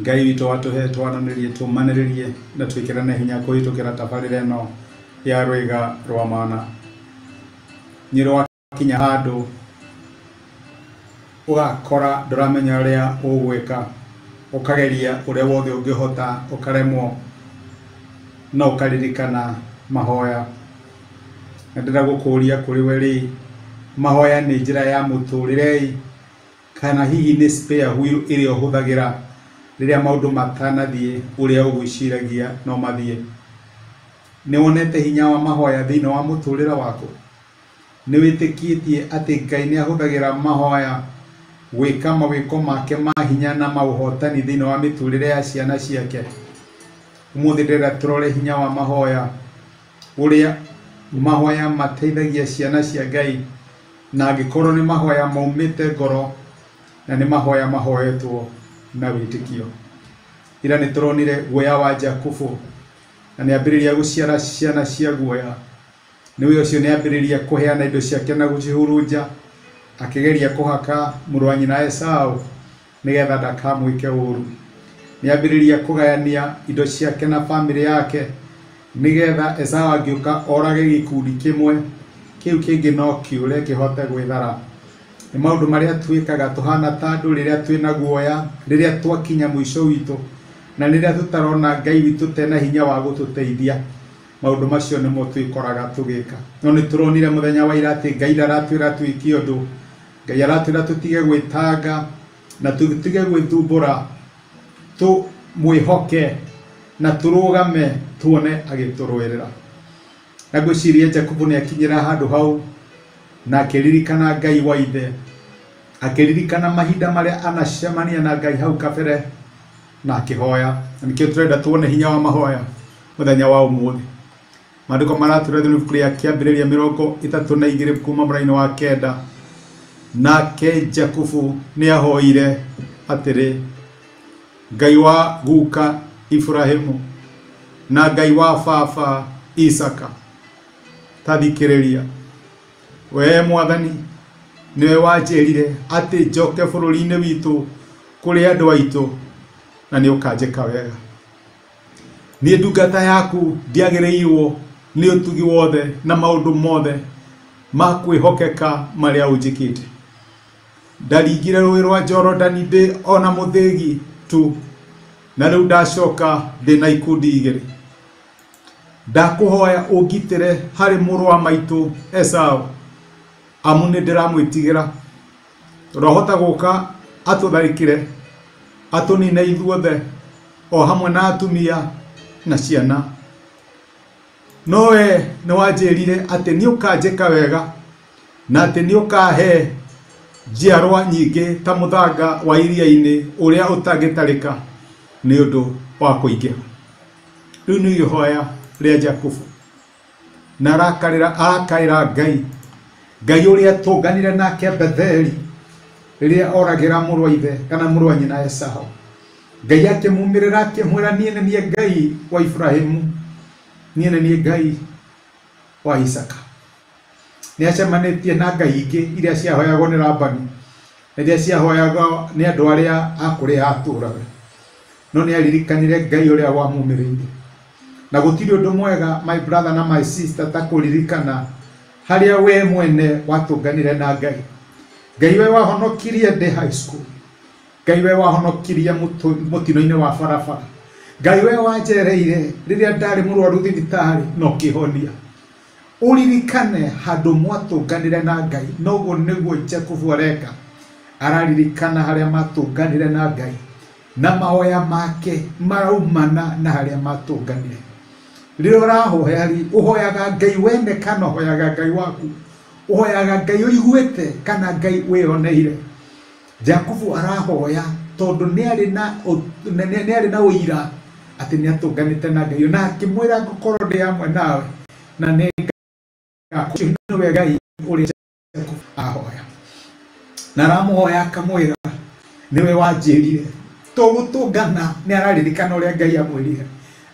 Ngai witũ atũhe twananĩrie, tũmanĩrĩrie na twĩkĩrane hinya kũhĩtũkĩra tabarĩra ĩno ya Rwĩga rwa Mana. Nĩ rwakinya handũ ũgakora ndũramenya ũrĩa ũgwĩka, ũkageria ũrĩa wothe ũngĩhota ũkaremwo, no ũkaririkana mahoya. Na ndĩrenda gũkũria kũrĩ we rĩ, mahoya nĩ njĩra ya mũtũrĩre-ĩ. Kana hihi nĩ spare wheel ĩrĩa ũhũthagĩra rĩrĩa maũndũ matanathiĩ ũrĩa ũgwĩciragia no mathiĩ? Nĩ wonete hinya wa mahoya thĩinĩ wa mũtũrĩre waku? Nĩ wĩtĩkĩtie atĩ Ngai nĩ ahũthagĩra mahoya gwĩka mawĩko make ma hinya na ma ũhotani thĩinĩ wa mĩtũrĩre ya ciana ciake? Ũmũthĩ ndĩrenda tũrore hinya wa mahoya. ũrĩa mahoya mateithagia ciana cia Ngai, na angĩkorwo nĩ mahoya maumĩte ngoro, na nĩ mahoya mahoyetwo na wĩtĩkio. Ira nĩ tũronire guoya wa Jakubu, na nĩ ambĩrĩria gũciara ciana cia guoya, nĩwe ũcio nĩ ambĩrĩria kũheana indo ciake na gũcihurunja, akĩgeria kũhaka mũrũ wa nyina Esau. Nĩgetha ndakamwĩke ũũru, nĩ ambĩrĩria kũgayania indo ciake na bamĩrĩ yake, nĩgetha Esau angĩũka orage gĩkundi kĩmwe, kĩu kĩngĩ no kĩũre kĩhote gwĩthara. Nĩ maũndũ marĩa twĩkaga tũhana ta andũ rĩrĩa twĩ na guoya, rĩrĩa twakinya mũico witũ, na rĩrĩa tũtarona Ngai witũ ta ena hinya wa gũtũteithia. Maũndũ macio nĩmo twĩkoraga tũgĩka. No nĩ tũronire mũthenya wa ira atĩ Ngai ndaratwĩra twĩke ũndũ Ngai aratwĩra tũtige gwĩtanga na tũtige gwĩthumbũra, tũmwĩhoke na tũrũgame tuone agĩtũrũĩrĩra. Na ngwĩciria Jakubu nĩ akinyĩra handũ hau na akĩririkana Ngai wa ithe, akĩririkana mahinda marĩa anacemania na Ngai hau kabere na akĩhoya. Na nĩkĩo tũrenda tuone hinya wa mahoya mũthenya wa ũmũthĩ. Maandĩko maratũĩra thĩinĩ wa ibuku rĩa Kĩambĩrĩria mĩrongo ĩtatũ na igĩrĩ kuuma mũrainĩ wa kenda, nake Jakubu nĩahoire atĩrĩ, Ngai wa guka Iburahimu na Ngai wa baba Isaka, ta thikĩrĩria, wee Mwathani nĩwe wanjĩrire atĩ njoke bũrũri-inĩ witũ kũrĩ andũ aitũ, na nĩũkanjĩka wega. Niĩ ndungata yaku ndiagĩrĩirwo nĩ ũtugi wothe na maũndũ mothe ma kwĩhokeka marĩa ũnjĩkĩte? Ndaringire rũĩ rwa Jorodani ndĩ o na mũthĩgi tu, na rĩu ndacoka ndĩ na ikundi igĩrĩ? Ndakũhoya ũngitĩre harĩ mũrũ wa maitũ Esaũ, amu nĩndĩramwĩtigĩra. Rohota gũka atũtharĩkĩre, atũnine ithuothe, o hamwe na atumia na ciana. No wee nĩwanjĩrire atĩ nĩũkanjĩka wega, na atĩ nĩũkahe njiarwa nyingĩ ta mũthanga wa iria-inĩ ũrĩa ũtangĩtarĩka nĩũndũ wa kũingĩha. Rĩu nĩ ihoya rĩa Jakubu. Na arakarĩra arakaĩra Ngai, Ngai ũrĩa tũnganire nake Betheli, rĩrĩa oragĩra mũrũ wa ithe kana mũrũ wa nyina Esau. Ngai akĩmumĩrĩra akĩmwĩra, niĩ nĩ niĩ Ngai wa Ibrahimu, niĩ nĩ niĩ Ngai wa Isaka. Nĩ acemanĩtie na ngai ingĩ iria ciahoyagwo nĩ Labani, na iria ciahoyagwo nĩ andũ arĩa a kũrĩa atũũraga. No nĩ aririkanire Ngai ũrĩa wamumĩrĩire. Na gũtirĩ ũndũ mwega, my brother na my sister, ta kũririkana harĩa we mwene watũnganire na Ngai. Ngai we wahonokirie ndĩ high school. Ngai we wahonokirie mũtũ- mũtino-inĩ wa barabara. Ngai we wanjereire rĩrĩa ndarĩ mũrwaru thibitarĩ na ũkĩhonia ũririkane handũ mwatũnganire na ngai noguo nĩguo jakubu areka araririkana harĩa matũnganire na ngai Na mahoya make maraumana na harĩa matũnganire. Rĩrĩa ũrahoya rĩ, ũhoyaga Ngai wene kana ũhoyaga Ngai waku? Ũhoyaga Ngai ũiguĩte kana Ngai wĩyoneire? Jakubu arahoya tondũ nĩ arĩ na nĩ arĩ na ũira atĩ nĩ atũnganĩte na Ngai na akĩmwĩra ngũkorwo ndĩ hamwe nawe na nĩ ngakuhe nĩwe Ngai ũrĩa Jacob ahoya na aramuhoya akamwira niwe wanjirire tugutungana ni araririkana uria ngai amwirire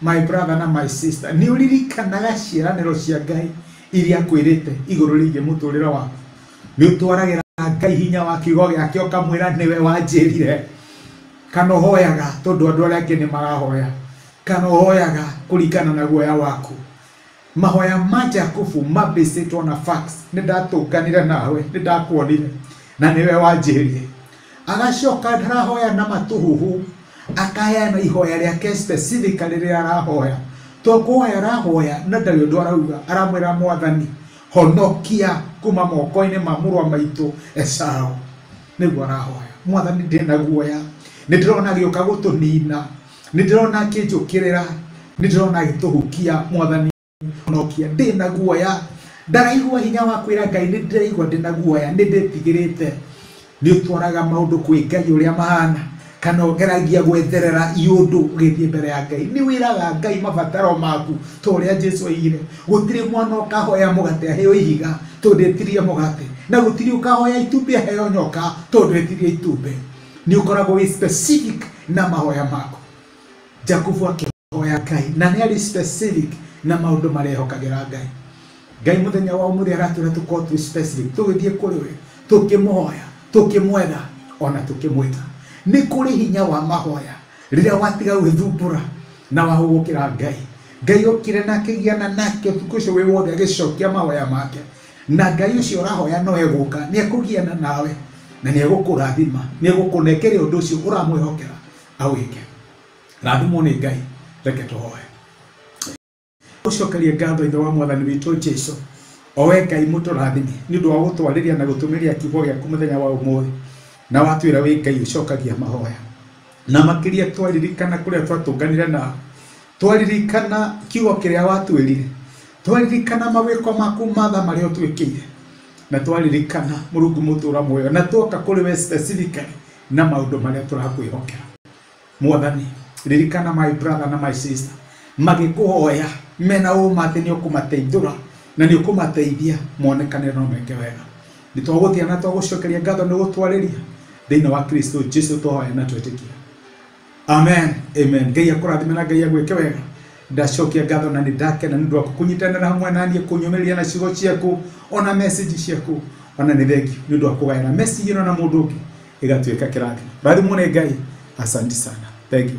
my brother na my sister ni uririkanaga ciaraniro cia ngai iria akwirite iguru rigie muturire waku ni utwaragira ngai hinya wa kiugo giake ukamwira niwe wanjirire kana uhoyaga tondu andu aria angi ni marahoya kana uhoyaga kuringana na guoya waku Mahoya ma Jakubu mambĩcĩtwo na fax, nĩ ndatũnganire nawe, nĩ ndakuonire, na nĩwe wanjĩhĩrie. Agacoka ndarahoya na matũhũhũ, akaheana ihoya rĩake specific rĩrĩa arahoya. To kũhoya arahoya na ndarĩ ũndũ arauga, aramwĩra mwathani, honokia kuma moko-inĩ ma mũrũ wa maitũ Esau. Nĩguo arahoya. Mwathani ndĩna guoya, nĩ ndĩrona agĩũka gũtũnina, nĩ ndĩrona akĩnjũkĩrĩra nĩ ndĩrona agĩtũhukia mwathani nokia ndĩ na guoya ndaraigua hinya wa kwĩra ngai nĩ ndĩraigua ndĩ na guoya nĩ ndĩtigĩrĩte nĩ ũtwaraga maũndũ kwĩ ngai ũrĩa mahana kana ũgeragia gwetherera iũndũ ũgĩthiĩ mbere ya ngai nĩ wĩraga ngai mabataro maku ta ũrĩa jesu oigire gũtirĩ mwana ũkahoya mũgate aheo ihiga tondũ etirie mũgate na gũtirĩ ũkahoya itumbĩ aheo nyoka tondũ etirie itumbĩ nĩ ũkoragwo wĩ specific na mahoya maku jakubu akĩhoya ngai na nĩ arĩ specific na maũndũ marĩa ehokagĩra ngai ngai mũthenya wa ũmũthĩ aratwĩra tũkorwo twĩ specific tũgĩthiĩ kũrĩ we tũkĩmũhoya tũkĩmwetha ona tũkĩmwĩta nĩ kũrĩ hinya wa mahoya rĩrĩa watiga gwĩthumbũra na wahũgũkĩra ngai ngai okire na akĩgiana nake ũtukũ ũcio wĩ wothe agĩcokia mahoya make na Ngai ũcio ũrahoya no egũka nĩ ekũgiana nawe na nĩ egũkũrathima nĩ egũkũnengere ũndũ ũcio ũramwĩhokera awĩke rathimwo nĩ Ngai reke tũhoe ũcokerie ngatho ithe wa mwathani witũ Jesu owe Ngai mũtũrathimi nĩ ũndũ wa gũtwarĩria na gũtũmĩria kiugo gĩaku mũthenya wa ũmũthĩ na watwĩra wĩ Ngai ũcokagia mahoya na makĩria twaririkana kũrĩa twatũnganire nao twaririkana kiugo kĩrĩa watwĩrire Twaririkana mawĩko maku matha marĩa ũtwĩkĩire na twaririkana mũrungu mũtũra muoyo na tuoka kũrĩ we specifically na maũndũ marĩa tũrakwĩhokera mwathani ririkana my brother na my sister magĩkũhoya mena ũma atĩ nĩ ũkũmateithũra na nĩ ũkũmateithia monekane na ũmeke wega nĩ twagũthia na twagũcokeria ngatho nĩ gũtwarĩria thĩinĩ wa kristo jesu tũhoya na twĩtĩkia Amen, amen. Ngai akũrathime na Ngai agwĩke wega. Ndacokia ngatho na nĩ ndakena nĩ ũndũ waku kũnyitanĩra hamwe na niĩ kũnyũmĩrĩria na ciugo ciaku ona message ciaku ona nĩ thengi nĩ ũndũ wa kũgayana message ĩno na mũndũ ũngĩ ĩgatuĩka kĩrathimo. Rathimwo nĩ Ngai. Asante sana. Thank you.